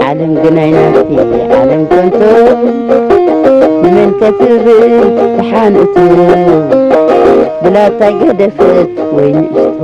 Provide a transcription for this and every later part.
ዓለም ግን ኣይናፍቲ ዓለም ከንቶ ንመን ከትብል ተሓንእቱ ብላታ ገደፈት ወይ ንእሽቶ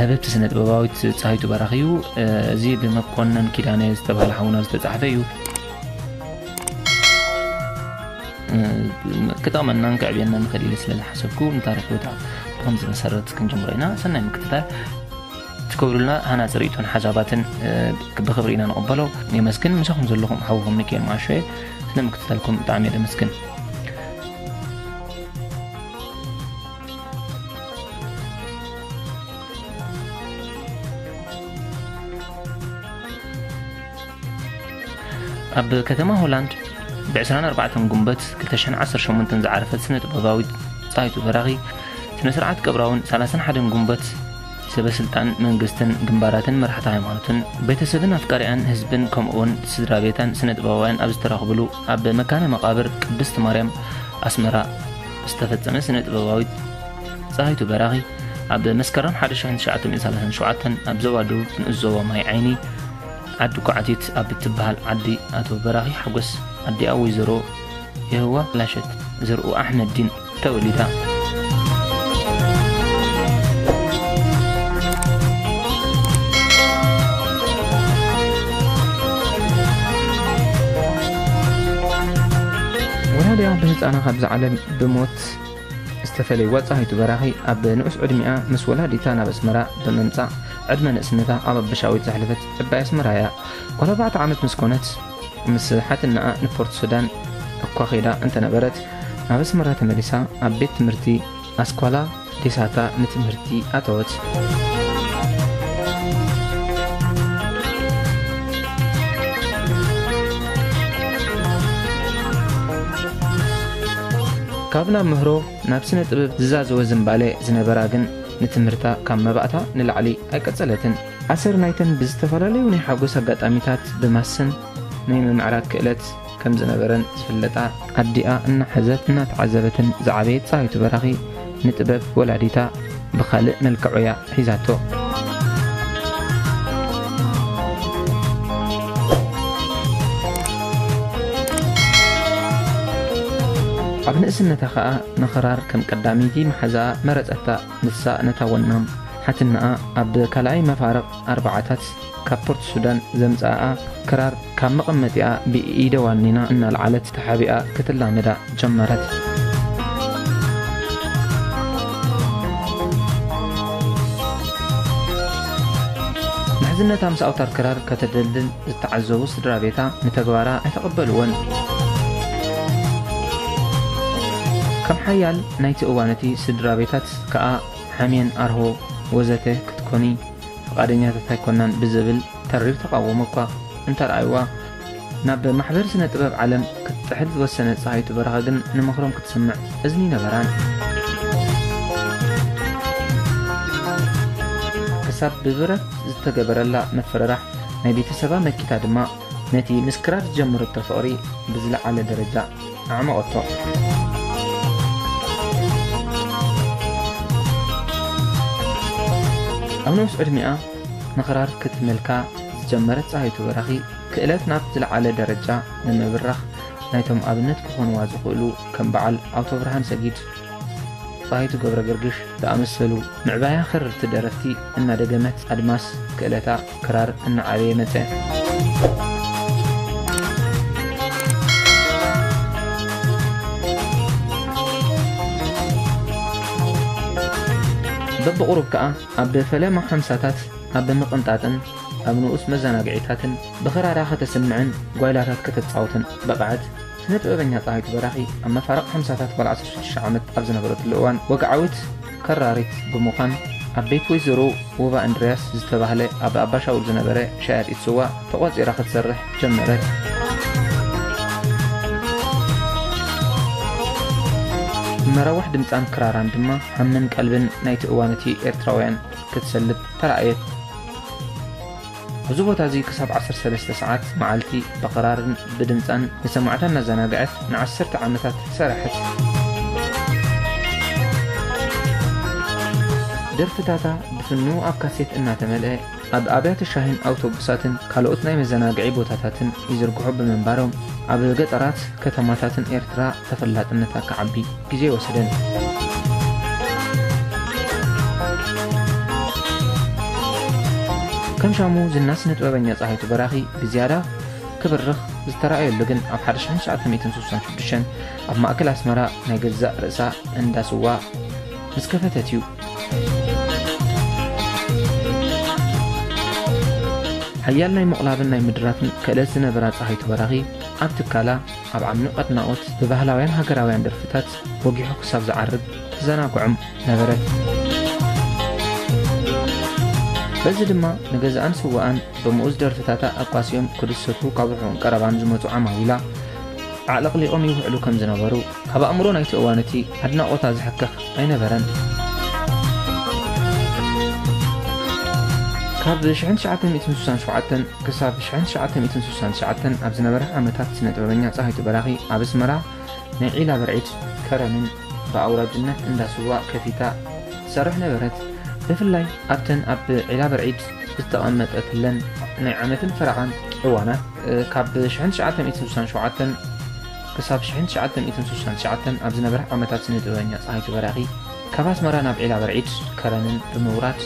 ህብብቲ ስነጥበባዊት ጻሂቱ በራኺ እዩ። እዚ ብመኮነን ኪዳነ ዝተባህለ ሓውና ዝተጻሕፈ እዩ። ክጠቕመናን ክዕብየናን ይኽእል ኢለ ስለ ዝሓሰብኩ ንታሪክ ቦታ ብከምዚ መሰረት ክንጅምሮ ኢና። ሰናይ ምክትታል ትገብሩልና ሃናፂ ርእቶን ሓሳባትን ብክብሪ ኢና ንቕበሎ የመስግን ምሳኹም ዘለኹም ሓውኹም ሚካኤል ማሾ እየ ስለ ምክትታልኩም ብጣዕሚ እየ ደመስግን ኣብ ከተማ ሆላንድ ብ24 ጉንበት 218 ዝዓረፈት ስነ ጥበባዊት ፀሃይቱ በራኺ ስነ ስርዓት ቀብራውን 31 ጉንበት ሰበስልጣን መንግስትን ግንባራትን መራሕቲ ሃይማኖትን ቤተሰብን ኣፍቃሪኣን ህዝብን ከምኡውን ስድራ ቤታን ስነ ጥበባውያን ኣብ ዝተረኽብሉ ኣብ መካነ መቓብር ቅድስት ማርያም ኣስመራ ዝተፈጸመ ስነ ጥበባዊት ፀሃይቱ በራኺ ኣብ መስከረም 1937 ኣብ ዞባ ደቡብ ንኡስ ዞባ ማይ ዓይኒ ዓዲ ኳዕቲት ኣብ እትበሃል ዓዲ ኣቶ በራኺ ሓጎስ ኣዲኣ ወይዘሮ የህዋ ላሸት ዘርኡ ኣሕመድ ዲን ተወሊዳ። ወላዲኣ ብህጻና ካብዛ ዓለም ብሞት ዝተፈለይዋ ጸሃይቱ በራኺ ኣብ ንዑስ ዕድሚኣ ምስ ወላዲታ ናብ ኣስመራ ብምምጻእ ዕድመ ንእስነታ ኣብ ኣበሻዊት ዘሕለፈት ዕባይ ኣስመራ እያ። ጓል ኣርባዕተ ዓመት ምስ ኮነት ምስ ሓትነኣ ንፖርት ሱዳን እኳ ከይዳ እንተነበረት፣ ናብ ኣስመራ ተመሊሳ ኣብ ቤት ትምህርቲ ኣስኳላ ዴሳታ ንትምህርቲ ኣተወት። ካብ ናብ ምህሮ ናብ ስነ ጥበብ ዝዛዘወ ዝምባሌ ዝነበራ ግን ንትምህርታ ካብ መባእታ ንላዕሊ ኣይቀጸለትን። ኣሰር ናይተን ብዝተፈላለዩ ናይ ሓጎስ ኣጋጣሚታት ብማሰን ናይ ምምዕራግ ክእለት ከም ዝነበረን ዝፍለጣ፣ ኣዲኣ እናሓዘት እናተዓዘበትን ዝዓበየት ፀሃይቱ በራኺ፣ ንጥበብ ወላዲታ ብኻልእ መልክዕ'ያ ሒዛቶ። ኣብ ንእስነታ ከኣ ንኽራር ከም ቀዳመይቲ መሓዛኣ መረጸታ። ንሳ ነታ ወናም ሓትነኣ ኣብ ካልኣይ መፋርቕ ኣርብዓታት ካብ ፖርት ሱዳን ዘምጽኣኣ ክራር ካብ መቐመጢኣ ብኢደ ዋኒና እናልዓለት ተሓቢኣ ክትላመዳ ጀመረት። ምሕዝነታ ምስ ኣውታር ክራር ከተደልድል ዝተዓዘቡ ስድራ ቤታ ንተግባራ ኣይተቐበልዎን። ከም ሓያል ናይቲ እዋን'ቲ ስድራ ቤታት ከኣ ሓሜን፣ ኣርሆ ወዘተ ክትኮኒ ፍቓደኛታት ኣይኮናን ብዝብል ተሪር ተቓውሞ እኳ እንተርኣዩዋ፣ ናብ ማሕበር ስነ ጥበብ ዓለም ክትጥሕል ዝወሰነት ጸሃይቱ በረኸ ግን ንምኽሮም ክትስምዕ እዝኒ ነበራን። ክሳብ ብብረት ዝተገበረላ ምፍርራሕ ናይ ቤተሰባ መኪታ ድማ ነቲ ምስ ክራር ዝጀመረቶ ፍቕሪ ብዝለዓለ ደረጃ ኣዕመቐቶ። ኣብ ነውስ ዕድሜኣ ንኽራር ክትመልካ ዝጀመረት ፀሃይቱ በራኺ ክእለት ናብ ዝለዓለ ደረጃ ንምብራኽ ናይቶም ኣብነት ክኾንዋ ዝኽእሉ ከም በዓል ኣውቶብርሃን ሰጊድ ጻይቱ ገብረገርግሽ ዝኣመሰሉ ምዕባያ ከረርቲ ደረፍቲ እናደገመት ኣድማስ ክእለታ ክራር እናዓበየ መጸ። በብቑሩብ ከኣ ኣብ ፈለማ ሓምሳታት ኣብ ምቕንጣጥን ኣብ ንኡስ መዘናግዒታትን ብኽራራ ከተስምዕን ጓይላታት ከተጻውትን በቕዐት። ስነ ጥበበኛ ጸሃይቱ በራኺ ኣብ መፋርቕ ሓምሳታት ጓል ዓሰርተ ሽዱሽተ ዓመት ኣብ ዝነበረትሉ እዋን ወግዓዊት ከራሪት ብምዃን ኣብ ቤት ወይዘሮ ወባ እንድርያስ ዝተባህለ ኣብ ኣባሻውል ዝነበረ ሸያጢት ስዋ ተቖጺራ ክትሰርሕ ጀመረት። መራዋሕ ድምጻን ክራራን ድማ ሃምን ቀልብን ናይቲ እዋን እቲ ኤርትራውያን ክትሰልብ ተራእየት። እዚ ቦታ እዚ ክሳብ ዓሰርተ ሰለስተ ሰዓት መዓልቲ ብኽራርን ብድምጻን ንሰማዕታ እናዘናግዐት ንዓሰርተ ዓመታት ሰራሐት። ደርፍታታ ብፍኑው ኣብ ካሴት እናተመልአ ኣብ ኣብያተ ሻሂን ኣውቶቡሳትን ካልኦት ናይ መዘናግዒ ቦታታትን ይዝርግሑ ብምንባሮም ኣብ ገጠራት ከተማታትን ኤርትራ ተፈላጥነታ ክዓቢ ግዜ ይወሰደኒከም ሻሙ ዝና ስነጥበበኛ ፀሃይቱ በራኺ ብዝያዳ ክብርኽ ዝተረኣየሉ ግን ኣብ 1966 ኣብ ማእከል ኣስመራ ናይ ገዛእ ርእሳ እንዳ ስዋ ምስ ከፈተት እዩ ሓያል ናይ ምቕላብን ናይ ምድራፍን ክእለት ዝነበራ ፀሃይቱ በራኺ ኣብ ትካላ ኣብ ዓሚቕ ኣድናቖት ብባህላውያን ሃገራውያን ደርፍታት ወጊሑ ክሳብ ዝዓርብ ተዘናግዖም ነበረ። በዚ ድማ ንገዛኣን ስዋኣን ብምኡዝ ደርፍታታ ኣቋሲዮም ክድሰቱ ካብ ርሑቕን ቀረባን ዝመፁ ዓማዊላ ኣዕለቕሊቖም ይውዕሉ ከም ዝነበሩ ካብ ኣእምሮ ናይቲ እዋን እቲ ኣድናቖታ ዝሕከኽ ኣይነበረን ካብ 1967 ክሳብ ሽሕን ትሽዓተ ሚእትን ስሳን ትሽዓተን ኣብ ዝነበረ ዓመታት ስነ-ጥበበኛ ጸሃይቱ በራኺ ኣብ ኣስመራ ናይ ዒላ ብርዒድ ከረንን ብኣውራጅነት እንዳ ስዋ ከፊታ ትሰርሕ ነበረት። ብፍላይ ኣብተን ኣብ ዒላ ብርዒድ ዝተቐመጠትለን ናይ ዓመትን ፈረቓን እዋናት ካብ ሽሕን ትሽዓተ ሚእትን ስሳን ሸውዓተን ክሳብ ሽሕን ትሽዓተ ሚእትን ስሳን ትሽዓተን ኣብ ዝነበረ ዓመታት ስነ-ጥበበኛ ጸሃይቱ በራኺ ካብ ኣስመራ ናብ ዒላ ብርዒድ ከረንን ብምውራድ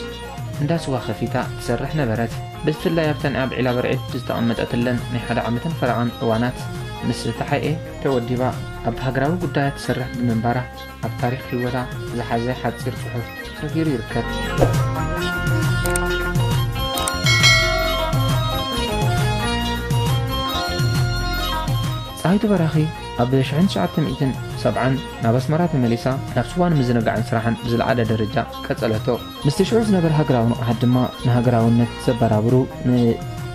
እንዳ ስዋ ከፊታ ትሰርሕ ነበረት። ብፍላይ ኣብተን ኣብ ዒላ በርዒድ ዝተቐመጠትለን ናይ ሓደ ዓመትን ፈረቓን እዋናት ምስ ተሓኤ ተወዲባ ኣብ ሃገራዊ ጉዳያት ትሰርሕ ብምንባራ ኣብ ታሪኽ ህይወታ ዝሓዘ ሓጺር ጽሑፍ ሰፊሩ ይርከብጸሃይቱ በራኺ ኣብ 1970 ናብ ኣስመራ ተመሊሳ ናብ ስዋ ንምዝንጋዕን ስራሕን ብዝለዓለ ደረጃ ቀጸለቶ። ምስቲ ሽዑ ዝነበረ ሃገራዊ ንቕሓት ድማ ንሃገራውነት ዘበራብሩ ን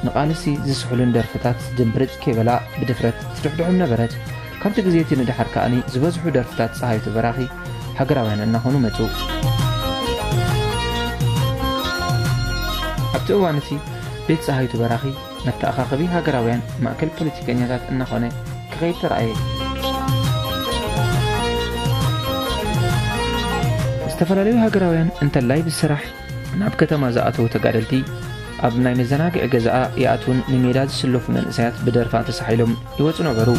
ንቓልሲ ዝስሕሉን ደርፍታት ድምብርጽ ከይበላ ብድፍረት ትድሕድሖም ነበረት። ካብቲ ግዜ እቲ ንደሓር ከኣ ዝበዝሑ ደርፍታት ጸሃይቱ በራኺ ሃገራውያን እናኾኑ መጹ። ኣብቲ እዋን እቲ ቤት ጸሃይቱ በራኺ፣ መተኣኻኸቢ ሃገራውያን ማእከል ፖለቲከኛታት እናኾነ ክኸይድ ተራእየ። ዝተፈላለዩ ሃገራውያን እንተላይ ብስራሕ ናብ ከተማ ዝኣተዉ ተጋደልቲ ኣብ ናይ መዘናግዒ ገዛኣ ይኣትዉን ንሜዳ ዝስለፉ መንእሰያት ብደርፋ ተሳሒሎም ይወፁ ነበሩ።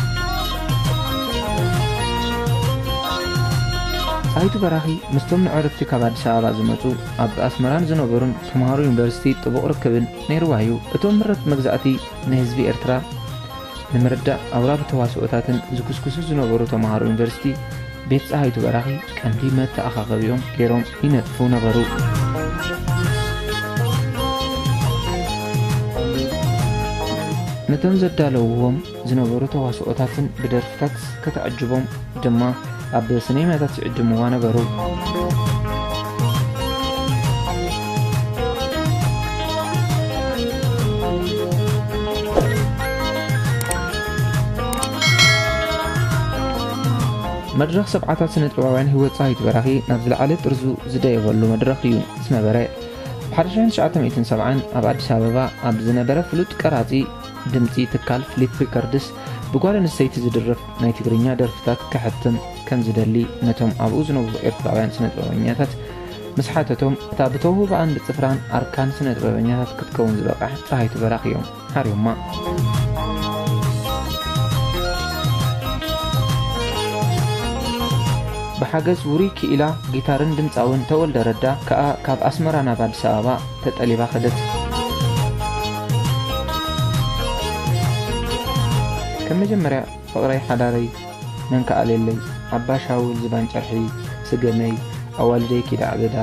ጣይቱ በራኺ ምስቶም ንዕረፍቲ ካብ ኣዲስ ኣበባ ዝመጹ ኣብ ኣስመራን ዝነበሩን ተምሃሮ ዩኒቨርሲቲ ጥቡቕ ርክብን ነይርዋ እዩ። እቶም ምረት መግዛእቲ ንህዝቢ ኤርትራ ንምርዳእ ኣውራ ብተዋስኦታትን ዝኩስኩሱ ዝነበሩ ተመሃሮ ዩኒቨርሲቲ ቤት ጸሃይቱ በራኺ ቀንዲ መተኣኻኸቢኦም ገይሮም ይነጥፉ ነበሩ። ነቶም ዘዳለውዎም ዝነበሩ ተዋስኦታትን ብደርፍታት ከተዕጅቦም ድማ ኣብ ስነማታት ይዕድምዋ ነበሩ። መድረኽ ሰብዓታት ስነ ጥበባውያን ህይወት ፀሃይት በራኺ ናብ ዝለዓለ ጥርዙ ዝደየበሉ መድረኽ እዩ ዝነበረ ብ1970 ኣብ ኣዲስ ኣበባ ኣብ ዝነበረ ፍሉጥ ቀራፂ ድምጺ ትካል ፍሊፕ ሪከርድስ ብጓል ኣንስተይቲ ዝድረፍ ናይ ትግርኛ ደርፍታት ከሕትም ከም ዝደሊ ነቶም ኣብኡ ዝነብሩ ኤርትራውያን ስነጥበበኛታት ምስ ሓተቶም እታ ብተውህባኣን ብጽፍራን ኣርካን ስነጥበበኛታት ክትከውን ዝበቕዕ ጸሃይቱ በራኽ እዮም ሓርዮማ። ብሓገዝ ውሩይ ክኢላ ጊታርን ድምፃውን ተወልደ ረዳ ከኣ ካብ ኣስመራ ናብ ኣዲስ ኣበባ ተጠሊባ ከደት። ከም መጀመርያ ፍቕረይ ሓዳረይ መን ክኣልየለይ ኣባ ሻውል ዝባን ጨርሒ ስገመይ ኣዋልደይ ኪድ ኣዕበዳ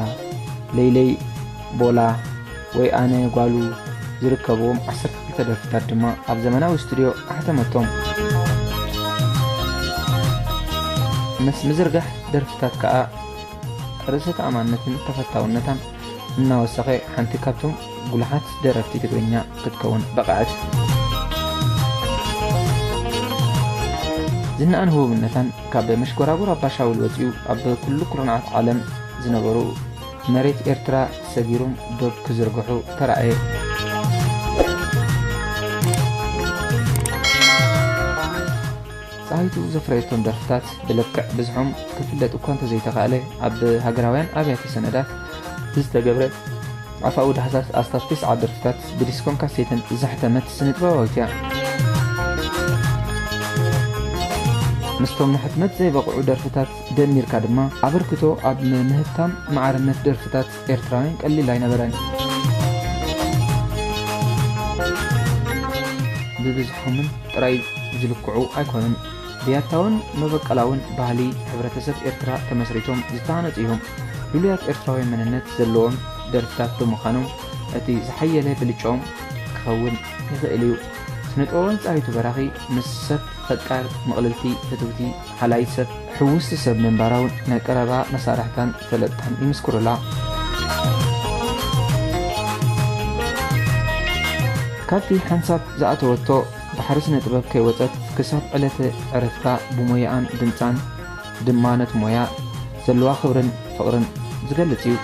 ለይለይ ቦላ ወይ ኣነ ጓሉ ዝርከብዎም ዓሰርተ ክልተ ደርፍታት ድማ ኣብ ዘመናዊ ስቱድዮ ኣሕተመቶም። ምስ ምዝርጋሕ ደርፍታት ከኣ ርእሰ ተኣማንነትን ተፈታውነታን እናወሰኸ ሓንቲ ካብቶም ጉሉሓት ደረፍቲ ትግርኛ ክትከውን በቐዐት። ዝናኣን ህቡብነታን ካብ መሽጎራጉር ኣባሻውል ወጺኡ ኣብ ኩሉ ኩርናዓት ዓለም ዝነበሩ መሬት ኤርትራ ሰጊሩም ዶብ ክዝርግሑ ተራእየ። ጸሃይቱ ዘፍረየቶም ደርፍታት ብልክዕ ብዝሖም ክፍለጥ እኳ እንተዘይተኻእለ፣ ኣብ ሃገራውያን ኣብያተ ሰነዳት ብዝተገብረ ኣፋዊ ዳህሳስ ኣስታት ተስዓ ደርፍታት ብዲስኮን ካሴትን ዘሕተመት ስነጥበባዊት እያ። ምስቶም ንሕትመት ዘይበቕዑ ደርፍታት ደሚርካ ድማ ኣበርክቶ ኣብ ምህብታም ማዕርነት ደርፍታት ኤርትራውያን ቀሊል ኣይነበረን። ብብዝሖምን ጥራይ ዝልክዑ ኣይኮኑን። ብያታውን መበቀላውን ባህሊ ሕብረተሰብ ኤርትራ ተመስሪቶም ዝተሃነጹ እዮም። ልሉያት ኤርትራዊ መንነት ዘለዎም ደርፍታት ብምኻኖም እቲ ዝሓየለ ብልጫኦም ክኸውን ይኽእል እዩ። ስነጥበባዊት ጸሃይቱ በራኺ ምስ ሰብ ፈቃር፣ ምቕልልቲ፣ ፍትውቲ፣ ሃላዪት ሰብ ሕውስቲ ሰብ ምንባራ እውን ናይ ቀረባ መሳርሕታን ፈለጥታን ይምስክሩላ። ካብቲ ሓንሳብ ዝኣተወቶ ባሕሪ ስነ ጥበብ ከይወፀት ክሳብ ዕለተ ዕረፍታ ብሞያኣን ድምፃን ድማ ነቲ ሞያ ዘለዋ ክብርን ፍቕርን ዝገልጽ እዩ።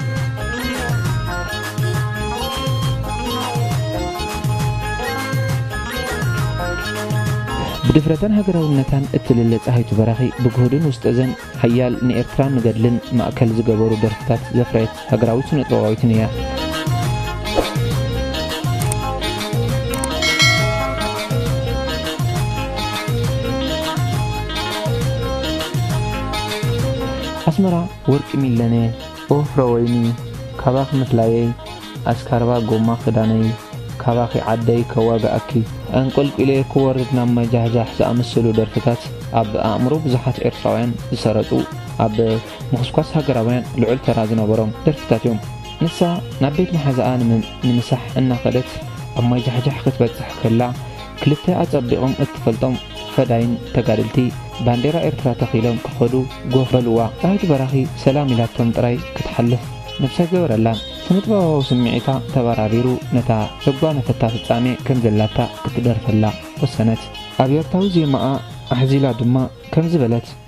ብድፍረታን ሃገራውነታን እትልለ ጸሃይቱ በራኺ ብግሁድን ውስጠዘን ሓያል ንኤርትራን ንገድልን ማእከል ዝገበሩ ደርፍታት ዘፍረየት ሃገራዊት ስነጥበባዊትን እያ። ኣስመራ ወርቂ ሚለነ ኦ ፍረወይኒ ካባኺ ምፍላየይ ኣስካርባ ጎማ ክዳነይ ካባኺ ዓደይ ከዋግኣኪ ኣንቆልቊለ ክወርድ ናብ ማይ ጃሕጃሕ ዝኣመሰሉ ደርፍታት ኣብ ኣእምሮ ብዙሓት ኤርትራውያን ዝሰረጹ ኣብ ምኹስኳስ ሃገራውያን ልዑል ተራ ዝነበሮም ደርፍታት እዮም። ንሳ ናብ ቤት መሓዛኣ ንምሳሕ እናኸደት ኣብ ማይ ጃሕጃሕ ክትበጽሕ ከላ፣ ክልተ ኣጸቢቖም እትፈልጦም ፈዳይን ተጋደልቲ ባንዴራ ኤርትራ ተኺሎም ክኸዱ ጎፍ በሉዋ። ዳዊት በራኺ ሰላም ኢላቶም ጥራይ ክትሓልፍ ነብሲ ኣይገበረላን። ስነጥበባዊ ስምዒታ ተበራቢሩ ነታ ዘጓነፈታ ፍጻሜ ከም ዘላታ ክትደርፈላ ወሰነት። ኣብ ኤርታዊ ዜማኣ ኣሕዚላ ድማ ከምዚ በለት።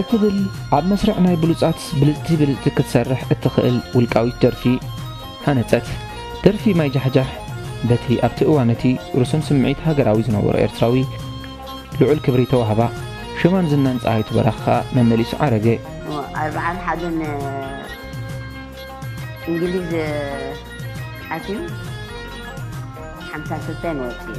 እትብል ኣብ መስርዕ ናይ ብሉጻት ብልጽቲ ብልጽቲ ክትሰርሕ እትኽእል ውልቃዊት ደርፊ ሃነጸት። ደርፊ ማይ ጃሕጃሕ በቲ ኣብቲ እዋን እቲ ርሱን ስምዒት ሃገራዊ ዝነበሮ ኤርትራዊ ልዑል ክብሪ ተዋህባ። ሽማን ዝናን ጸሃይቱ በራኺ ከኣ መመሊሱ ዓረገ። ኣርብዓን ሓደን እንግሊዝ ኣትዩ ሓምሳን ክልተን ወጺኡ።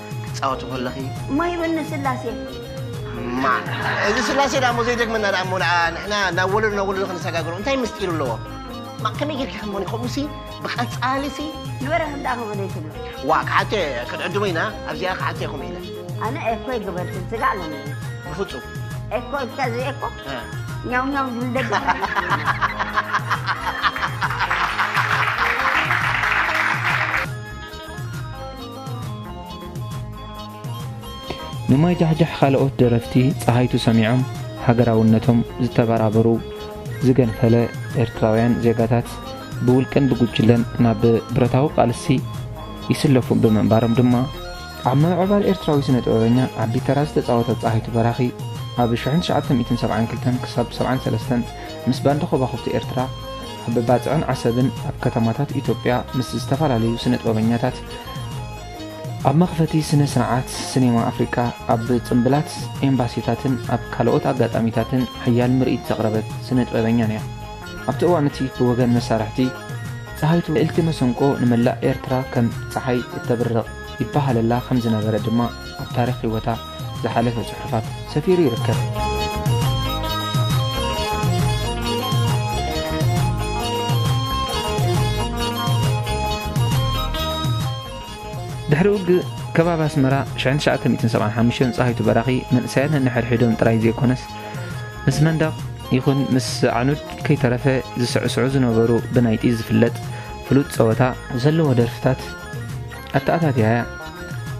ክትጻወቲ ኮለኺ ማይ በኒ ስላሴ። ማእ እዚ ስላሴ ድኣሞ ዘይደግመና ድኣሞ ንዓ ንሕና ናብ ወለዶ ናብ ወለዶ ክንሰጋግሮ እንታይ ምስጢር ኣለዎ። ማእ ከመይ ጌርኪ ከምኡ ከምኡሲ ብቐጻሊሲ ንበረኸት ድኣ ከምኡ ዘይትብሎ። ዋእ ክሓቶ ኢየ ክትዕድሙ ኢና ኣብዚኣ ክሓቶ ኢየ ከምኡ ኢለ። ኣነ ኤኮ ኣይገበርክን ስጋዕ ሎሚ ኢዩ። ብፍጹም። ኤኮ ኢልካ እዚ ኤኮ ኛው ኛው ዝብል ደገ ንማይ ጃሕጃሕ ኻልኦት ደረፍቲ ጸሃይቱ ሰሚዖም ሃገራውነቶም ዝተበራበሩ ዝገንፈለ ኤርትራውያን ዜጋታት ብውልቅን ብጉጅለን ናብ ብረታዊ ቃልሲ ይስለፉ ብምንባሮም ድማ፣ ኣብ ምምዕባል ኤርትራዊ ስነ-ጥበበኛ ዓቢ ተራ ዝተጻወተት ጸሃይቱ በራኺ፣ ኣብ ሽሕን ትሽዓተ ሚእትን ሰብዓን ክልተን ክሳብ ሰብዓን ሰለስተን ምስ ባንድ ኾባኹብቲ ኤርትራ፣ ኣብ ባጽዕን ዓሰብን ኣብ ከተማታት ኢትዮጵያ ምስ ዝተፈላለዩ ስነጥበበኛታት ኣብ መኽፈቲ ስነ ስርዓት ሲኔማ ኣፍሪቃ ኣብ ጽምብላት ኤምባሲታትን ኣብ ካልኦት ኣጋጣሚታትን ሓያል ምርኢት ዘቕረበት ስነጥበበኛን እያ። ኣብቲ እዋን እቲ ብወገን መሳርሕቲ ጸሃይቱ ልእልቲ መሰንቆ ንመላእ ኤርትራ ከም ጸሓይ እተብርቕ ይበሃለላ ከም ዝነበረ ድማ ኣብ ታሪኽ ህይወታ ዝሓለፈ ጽሑፋት ሰፊሩ ይርከብ። ድሕሪ ውግእ ከባቢ ኣስመራ 1975 ፀሃይቱ በራኺ መንእሰያት ነንሕድሕዶም ጥራይ ዘይኮነስ ምስ መንደቕ ይኹን ምስ ኣዕኑድ ከይተረፈ ዝስዕስዑ ዝነበሩ ብናይ ጢዝ ዝፍለጥ ፍሉጥ ፀወታ ዘለዎ ደርፍታት ኣተኣታትያ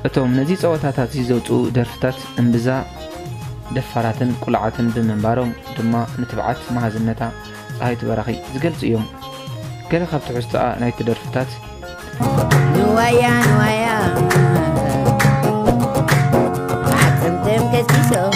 እቶም ነዚ ጸወታታትዚ ዘውጽኡ ደርፍታት እምብዛ ደፋራትን ቁልዓትን ብምንባሮም ድማ ንትብዓት መሃዝነታ ጸሃይቱ በራኺ ዝገልጹ እዮም። ገለ ካብ ትሕዝቶኣ ናይቲ ደርፍታት ንዋያ ንዋያ ዓጽምቶም ከሲሶም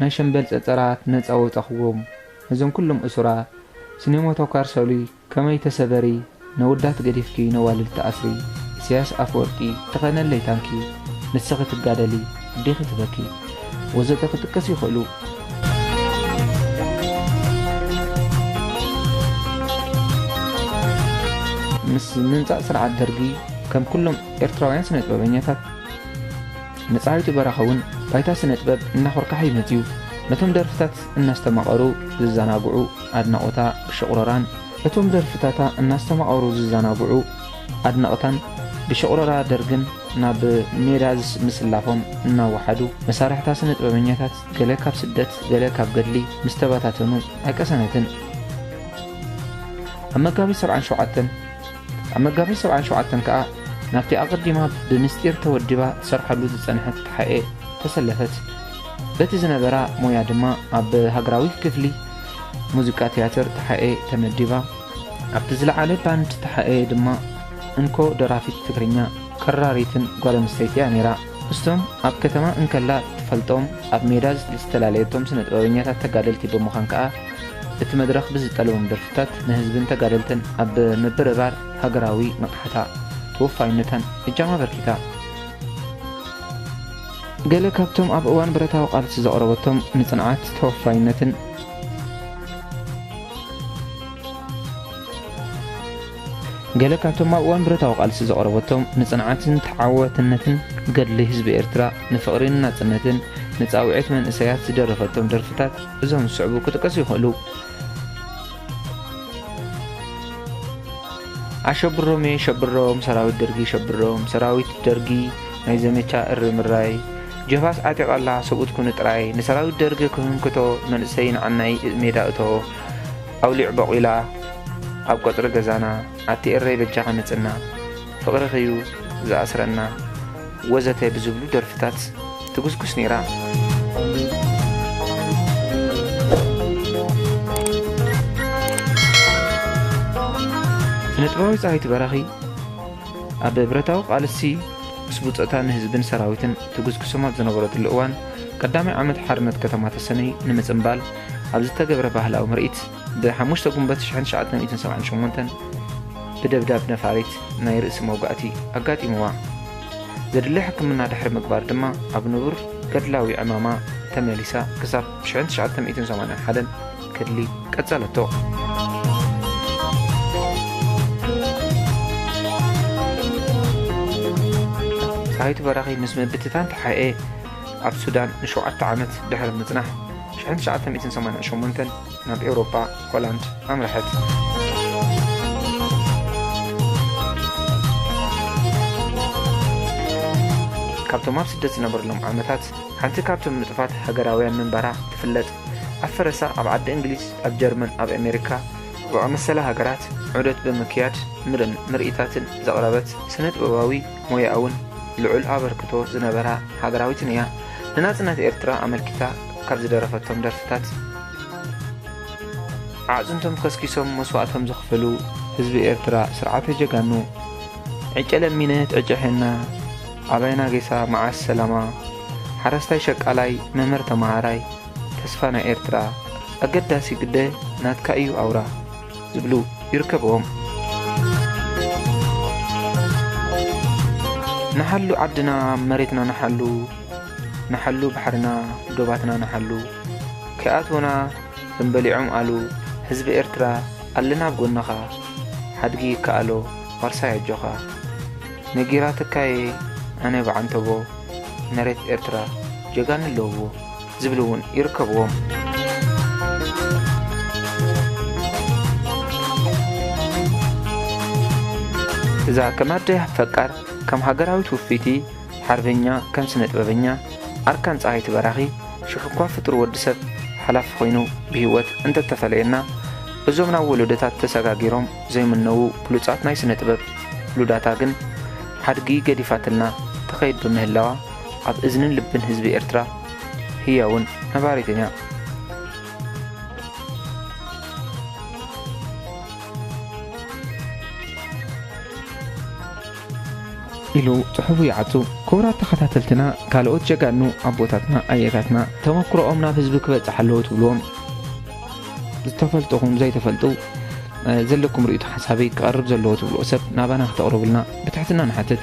ናይ ሸምበል ጸጸራት ነጻ ወጻኹዎም ነዞም ኩሎም እሱራ ስኔሞቶካር ሰሉይ ከመይ ተሰበሪ ነወዳት ገዲፍኪ ነዋልድ ትኣስሪ ኢሰያስ ኣፈወርቂ ተኸነለይ ታንኪ ንስኺ ትጋደሊ ኣዴኺ ትበኪ ወዘተ ክጥቀሱ ይኽእሉ። ምስ ምምጻእ ስርዓት ደርጊ ከም ኩሎም ኤርትራውያን ስነጥበበኛታት፣ ንጻሪቱ በራኺ ውን ባይታ ስነጥበብ እናኾርካሐ'ዩ መጺኡ። ነቶም ደርፍታት እናስተማቐሩ ዝዛናግዑ ኣድናቖታ ብሽቑረራን፣ እቶም ደርፍታታ እናስተማቐሩ ዝዛናግዑ ኣድነቕታን ብሽቑረራ ደርግን ናብ ሜዳ ምስላፎም እናወሓዱ፣ መሳርሕታ ስነጥበበኛታት ገለ ካብ ስደት ገለ ካብ ገድሊ ምስ ተበታተኑ ኣይቀሰነትን። ኣብ መጋቢት ሰብዓን ሸውዓተን፣ ኣብ መጋቢት ሰብዓን ሸውዓተን ከኣ ናብቲ ኣቐዲማ ብምስጢር ተወዲባ ትሰርሓሉ ዝጸንሐት ተሓኤ ተሰለፈት። በቲ ዝነበራ ሞያ ድማ ኣብ ሃገራዊ ክፍሊ ሙዚቃ ትያትር ተሓኤ ተመዲባ። ኣብቲ ዝለዓለ ባንድ ተሓኤ ድማ እንኮ ደራፊት ትግርኛ፣ ቀራሪትን ጓል ኣንስተይቲ'ያ ነይራ። እስቶም ኣብ ከተማ እንከላ እትፈልጦም ኣብ ሜዳ ዝተላለየቶም ስነጥበበኛታት ተጋደልቲ ብምዃን ከኣ እቲ መድረኽ ብዝጠለቦም ደርፍታት ንህዝብን ተጋደልትን ኣብ ምብርባር ሃገራዊ ንቕሓታ ተወፋይነታን እጃማ ኣበርኪታ። ገለ ካብቶም ኣብ እዋን ብረታዊ ቃልሲ ዘቕረበቶም ንጽንዓት፣ ተወፋይነትን፣ ገለ ካብቶም ኣብ እዋን ብረታዊ ቃልሲ ዘቕረበቶም ንጽንዓትን ተዓዋትነትን ገድሊ ህዝቢ ኤርትራ፣ ንፍቕሪን ናጽነትን፣ ንጻውዒት መንእሰያት ዝደረፈቶም ደርፍታት እዞም ዝስዕቡ ክጥቀሱ ይኽእሉ። ኣሸብሮምየ ሸብሮም ሰራዊት ደርጊ ሸብሮም ሰራዊት ደርጊ ናይ ዘመቻ እሪ ምራይ ጀብሃስ ዓጢቓ ኣላ ሰብኡት ኩኑ ጥራይ ንሰራዊት ደርጊ ክህንክቶ መንእሰይ ንዓናይ ሜዳ እቶ ኣውሊዕ ቦቂላ ኣብ ቀጽሪ ገዛና ኣቲ ኤረይ በጃኺ ምጽና ፍቅርኺ'ዩ ዝኣስረና ወዘተ ብዝብሉ ደርፍታት ትጉስጉስ ኔራ። ስነጥበባዊት ጸሃይቱ በራኺ ኣብ ብረታዊ ቃልሲ ምስ ብጾታ ንህዝብን ሰራዊትን ትጉስጉሶም ኣብ ዝነበረትሉ እዋን ቀዳማይ ዓመት ሓርነት ከተማ ተሰነይ ንምጽንባል ኣብ ዝተገብረ ባህላዊ ምርኢት ብ ሓሙሽተ ጉንበት ሽሕን ትሽዓተ ሚእትን ሰብዓን ሸሞንተን ብደብዳብ ነፋሪት ናይ ርእሲ መውጋእቲ ኣጋጢምዋ። ዘድሊ ሕክምና ድሕሪ ምግባር ድማ ኣብ ንቡር ገድላዊ ዕማማ ተመሊሳ ክሳብ ሽሕን ትሽዓተ ሚእትን ሰማንያን ሓደን ገድሊ ቀጸለቶ። ፀሃይቱ በራኺ ምስ ምብትታን ተሓኤ ኣብ ሱዳን ንሸውዓተ ዓመት ድሕሪ ምፅናሕ ሽሕን ትሽዓተ ሚእትን ሰማንያን ሸሞንተን ናብ ኤውሮጳ፣ ሆላንድ፣ ኣምረሐት። ካብቶም ኣብ ስደት ዝነበርሎም ዓመታት፣ ሓንቲ ካብቶም ንጡፋት ሃገራውያን ምንባራ ትፍለጥ። ኣብ ፈረሳ ኣብ ዓዲ እንግሊዝ፣ ኣብ ጀርመን፣ ኣብ ኣሜሪካ ዝኣመሰላ ሃገራት ዑደት ብምክያድ ምርን ምርኢታትን ዘቕረበት ስነ-ጥበባዊ፣ ሞያኣውን ልዑል ኣበርክቶ ዝነበራ ሃገራዊትን እያ። ንናጽነት ኤርትራ ኣመልኪታ ካብ ዝደረፈቶም ደርፍታት። ኣዕጽምቶም ከስኪሶም መስዋእቶም ዘኽፈሉ ህዝቢ ኤርትራ ስርዓተ ጀጋኑ። ዕጨ ለሚንት ዕጨ ሔና፣ ኣባይና ጌሳ መዓስ ሰላማ፣ ሓረስታይ ሸቃላይ መምህር ተመሃራይ፣ ተስፋ ናይ ኤርትራ፣ ኣገዳሲ ግደ ናትካ ኢዩ ኣውራ። ዝብሉ ይርከብዎም። ንሓሉ ዓድና መሬትና ንሓሉ ንሓሉ ባሕርና ዶባትና ንሓሉ ከይኣትዉና ከም በሊዖም ኣሉ ህዝቢ ኤርትራ ኣለና ኣብ ጎንኻ ሓድጊ ይከኣሎ ዋርሳይ ኣጆኻ ነጊራትካየ ኣነ ብዓንተቦ መሬት ኤርትራ ጀጋኑ ኣለዉዎ። ዝብሉ እውን ይርከብዎም። እዛ ከም ኣደ ፈቃር፣ ከም ሃገራዊት ውፍይቲ ሓርበኛ፣ ከም ስነጥበበኛ ኣርካን ፀሃይቲ በራኺ፣ ሽሕ እኳ ፍጡር ወዲ ሰብ ሓላፊ ኮይኑ ብህይወት እንተተፈለየና እዞም ናብ ወለዶታት ተሰጋጊሮም ዘይምነዉ ብሉፃት ናይ ስነጥበብ ሉዳታ ግን ሓድጊ ገዲፋትልና ትኸይድ ብምህላዋ ኣብ እዝንን ልብን ህዝቢ ኤርትራ ህያውን ነባሪትን እያ። ኢሉ ጽሑፉ ይዓጹ። ክቡራት ተኸታተልትና ካልኦት ጀጋኑ ኣቦታትና ኣያታትና ተመኩሮኦም ናብ ህዝቢ ክበጽሕ ኣለዎ ትብልዎም ዝተፈልጥኹም ዘይተፈልጡ ዘለኩም ርእይቶ ሓሳብይ ክቐርብ ዘለዎ ትብልዎ ሰብ ናባና ክተቕርቡልና ብትሕትና ንሓትት።